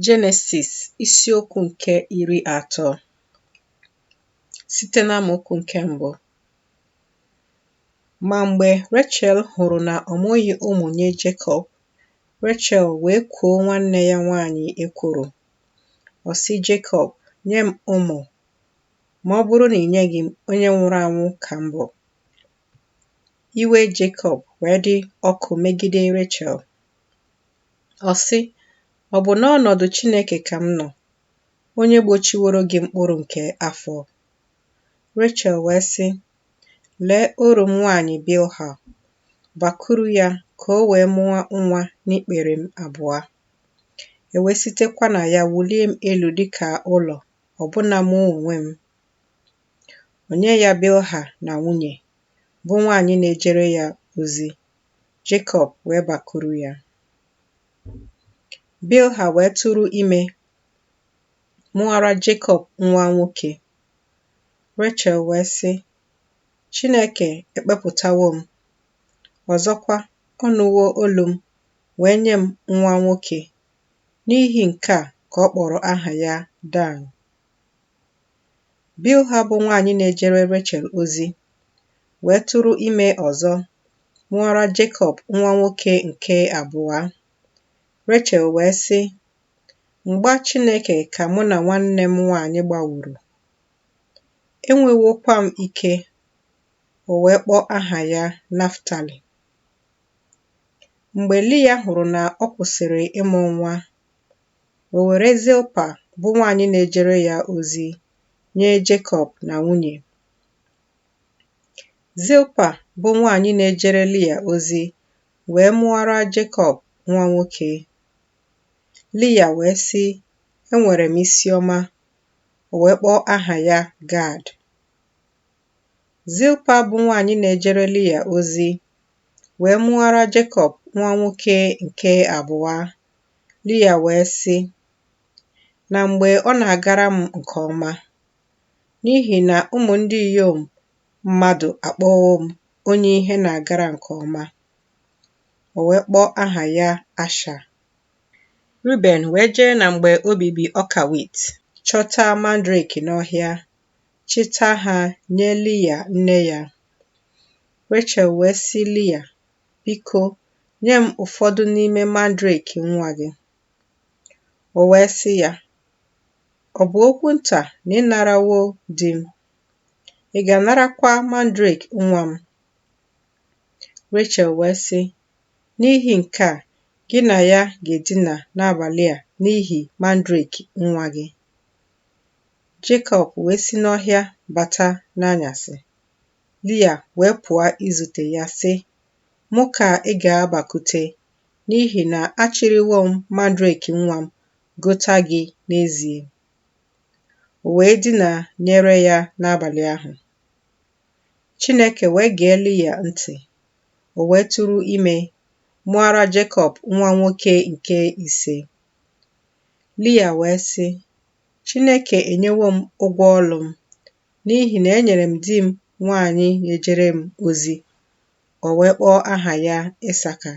Jenesis isiokwu nke iri atọ site n'amaokwu nke mbụ. Ma mgbe Rechel hụrụ na ọ mụghị ụmụ nye Jekọb, Rechel wee kwuo nwanne ya nwaanyị ekworo. Ọ sị Jekọb, Nye m ụmụ, ma ọ bụrụ na i nyeghị m, onye nwụrụ anwụ ka m bụ. Iwe Jekọb wee dị ọkụ megide Rechel Ọ sị, Ọ bụ n'ọnọdụ Chineke ka m nọ, onye gbochiworo gị mkpụrụ nke afọ. Rechel wee sị, Lee oru m nwaanyị Bilha, bakuru ya ka o wee mụọ nwa n'ikpere m abụọ. E wee sitekwa na ya wulie m elu dị ka ụlọ, ọbụna mụ onwe m. O nye ya Bilha na nwunye, bụ nwaanyị na-ejere ya ozi Jekọb wee bakuru ya. Bilha wee tụrụ ime mụọra Jekọb nwa nwoke. Rechel wee sị, Chineke ekpepụtawo m, ọzọkwa ọ nụwo olu m wee nye m nwa nwoke. N'ihi nke a ka ọ kpọrọ aha ya Dan. Bilha bụ nwaanyị na-ejere Rechel ozi, wee tụrụ ime ọzọ, mụọra Jekọb nwa nwoke nke abụọ. Rechel wee sị, Mgba Chineke ka mụ na nwanne m nwaanyị gbaworo. Enwewokwa m ike, o wee kpọọ aha ya Naftali. Mgbe Lia hụrụ na ọ kwụsịrị ịmụ nwa, O were Zilpa bụ nwaanyị na-ejere ya ozi nye Jekọb na nwunye. Zilpa bụ nwaanyị na-ejere Lia ozi wee mụọra Jekọb nwa nwoke. Lia wee sị, Enwere m isi ọma. O wee kpọọ aha ya Gad. Zilpa bụ nwaanyị na-ejere Lia ozi wee mụọra Jekọb nwa nwoke nke abụọ Lia wee sị, Na mgbe ọ na-agara m nke ọma, n'ihi na ụmụ ndị inyom mmadụ akpọwo m onye ihe na-agara nke ọma. O wee kpọọ aha ya Asha. Ruben wee jee na mgbe obibi ọka wit, chọta mandrake n'ọhịa, chịta ha nye Lia nne ya. Rechel wee sị Lia, Biko, nye m ụfọdụ n'ime mandrake nwa gị. O wee sị ya, Ọ bụ okwu nta na ị narawo di m. Ị ga-anarakwa mandrake nwa m. Rechel wee sị, N'ihi nke a, gị na ya ga-edina n'abalị a n'ihi mandrake nwa gị. Jekọb wee si n'ọhịa bata n'anyasị. Lia wee pụọ izute ya, sị, Mụ ka ị ga-abakute, n'ihi na achịrịwo m mandrake nwa m gota gị n'ezie. O wee dina nyere ya n'abalị ahụ. Chineke wee gee Lia ntị, o wee tụrụ ime, mụọra Jekọb nwa nwoke nke ise. Lia wee sị, Chineke enyewo m ụgwọ ọlụ m, n'ihi na enyere m di m nwaanyị na-ejere m ozi, o wee kpọọ aha ya Isaka.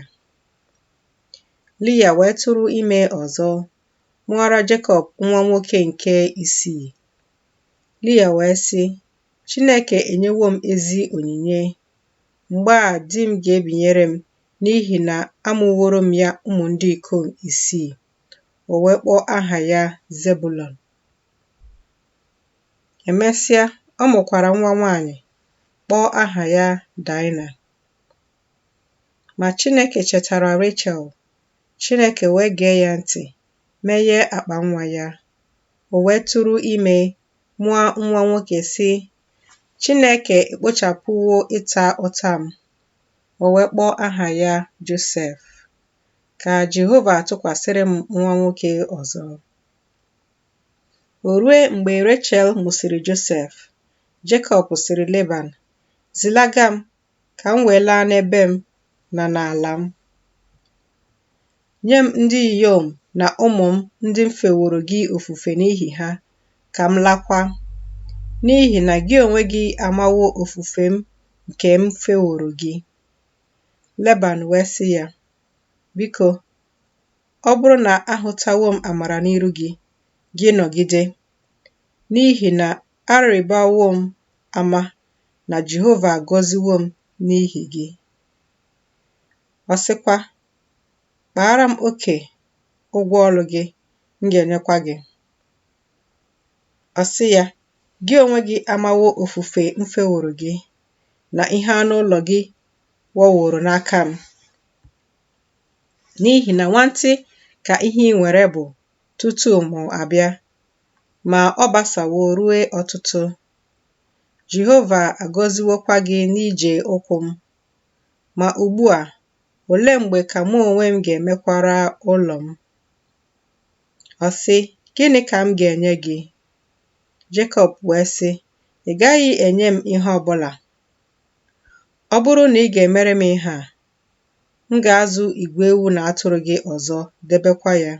Lia wee tụrụ ime ọzọ, mụọra Jekọb nwa nwoke nke isii. Lia wee sị, Chineke enyewo m ezi onyinye. Mgbe a di m ga-ebinyere m n'ihi na amụworo m ya ụmụ ndị ikom isii. O wee kpọọ aha ya Zebulọn. Emesịa, ọ mụkwara nwa nwaanyị, kpọọ aha ya Daịna. Ma Chineke chetara Rechel, Chineke wee gee ya ntị, meghee akpa nwa ya. O wee tụrụ ime, mụọ nwa nwoke, sị, Chineke ekpochapụwo ịta ụta m. O wee kpọọ aha ya Josef. Ka Jehova tụkwasịrị m nwa nwoke ọzọ. O rue mgbe Rechel mụsịrị Josef, Jekọb sịrị Leban, Zilaga m ka m wee laa n'ebe m na n'ala m. Nye m ndị inyom na ụmụ m ndị m feworo gị ofufe n'ihi ha, ka m lakwa, n'ihi na gị onwe gị amawo ofufe m nke m feworo gị. Leban wee sị ya, Biko, Ọ bụrụ na ahụtawo m amara n'iru gị, gị nọgide, n'ihi na arịbawo m ama na Jehova agọziwo m n'ihi gị. Ọ sịkwa, Kpaara m oke ụgwọ ọlụ gị, m ga-enyekwa gị. Ọ sị ya, Gị onwe gị amawo ofufe m feworo gị, na ihe anụ ụlọ gị wọworo n'aka m. n'ihi na nwantị ka ihe i nwere bụ tutu mụ abịa, ma ọ gbasawo rue ọtụtụ. Jehova agọziwokwa gị n'ije ụkwụ m. Ma ugbu a, olee mgbe ka mụ onwe m ga-emekwara ụlọ m? Ọ sị, Gịnị ka m ga-enye gị? Jekọb wee sị, Ị gaghị enye m ihe ọ bụla. Ọ bụrụ na ị ga-emere m ihe a, M ga-azụ igwe ewu na atụrụ gị ọzọ, debekwa ya.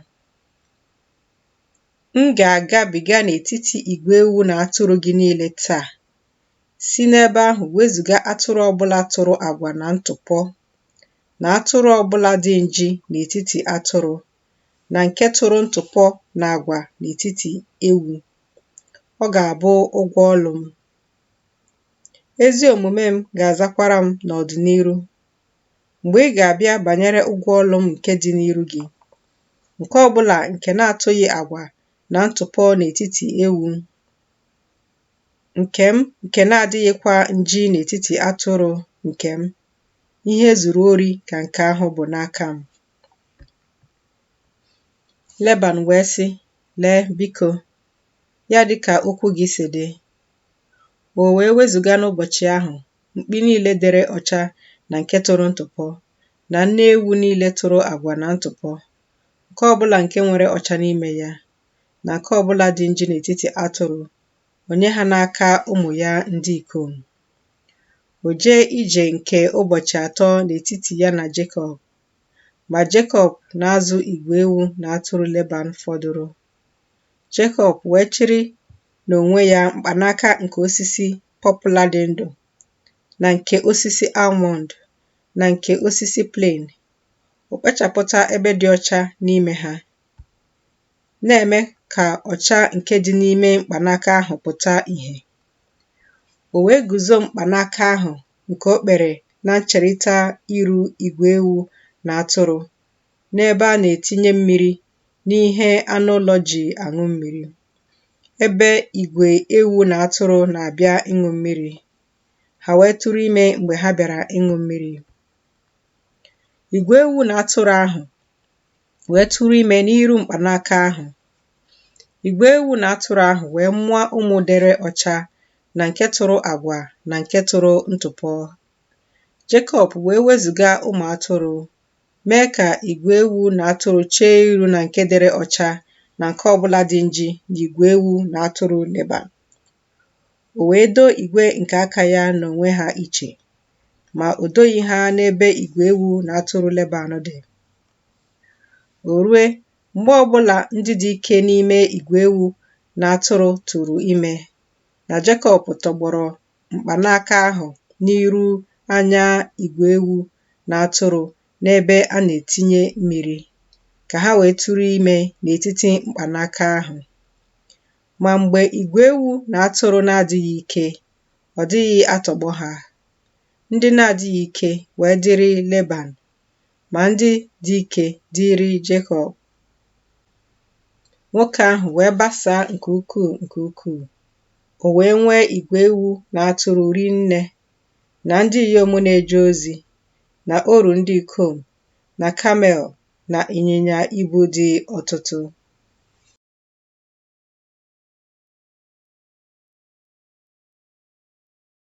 M ga-agabiga n'etiti igwe ewu na atụrụ gị niile taa, si n'ebe ahụ wezụga atụrụ ọbụla tụrụ agwa na ntụpọ, na atụrụ ọbụla dị nji n'etiti atụrụ, na nke tụrụ ntụpọ na agwa n'etiti ewu. Ọ ga-abụ ụgwọ ọlụ m. Ezi omume m ga-azakwara m n'ọdịniru. Mgbe ị ga-abịa banyere ụgwọ ọlụ m nke dị n'iru gị, nke ọbụla nke na-atụghị agwa na ntụpọ n'etiti ewu nke m, nke na-adịghịkwa nji n'etiti atụrụ nke m, ihe e zuru ori ka nke ahụ bụ n'aka m. Leban wee sị, Lee, biko, ya dị ka okwu gị si dị, O wee wezụga n'ụbọchị ahụ mkpi niile dere ọcha na nke tụrụ ntụpọ, na nne ewu niile tụrụ agwa na ntụpọ, nke ọ bụla nke nwere ọcha n'ime ya, na nke ọ bụla dị nji n'etiti atụrụ, o nye ha n'aka ụmụ ya ndị ikom. O jee ije nke ụbọchị atọ n'etiti ya na Jekọb, ma Jekọb na-azụ igwe ewu na atụrụ Leban fọdụrụ. Jekọb wee chịrị n'onwe ya mkpanaka nke osisi pọpla dị ndụ na nke osisi almọnd na nke osisi plane, o kpechapụta ebe dị ọcha n'ime ha, na-eme ka ọcha nke dị n'ime mkpanaka ahụ pụta ìhè. O wee guzo mkpanaka ahụ nke o kpere na ncherita iru igwe ewu na atụrụ n'ebe a na-etinye mmiri n'ihe anụ ụlọ ji aṅụ mmiri, ebe igwe ewu na atụrụ na-abịa ịṅụ mmiri, ha wee tụrụ ime mgbe ha bịara ịṅụ mmiri. Igwe ewu na atụrụ ahụ wee tụrụ ime n'iru mkpanaka ahụ. Igwe ewu na atụrụ ahụ wee mụọ ụmụ dere ọcha na nke tụrụ agwa na nke tụrụ ntụpọ. Jekọb wee wezụga ụmụ atụrụ Mee ka igwe ewu na atụrụ chee iru na nke dere ọcha na nke ọ bụla dị nji na igwe ewu na atụrụ Leban. O wee doo igwe nke aka ya n'onwe ha iche, ma o doghị ha n'ebe igwe ewu na atụrụ Leban dị. O rue, mgbe ọ bụla ndị dị ike n'ime igwe ewu na atụrụ tụrụ ime, na Jekọb tọgbọrọ mkpanaka ahụ n'iru anya igwe ewu na atụrụ n'ebe a na-etinye mmiri, ka ha wee tụrụ ime n'etiti mkpanaka ahụ. Ma mgbe igwe ewu na atụrụ na-adịghị ike, ọ dịghị atọgbọ ha. Ndị na-adịghị ike wee dịrị Leban, ma ndị dị ike dịrị Jekọb. Nwoke ahụ wee basaa nke ukwuu nke ukwuu. O wee nwee igwe ewu na atụrụ ri nne, na ndị inyom na-eje ozi, na oru ndị ikom, na kamel, na ịnyịnya ibu dị ọtụtụ.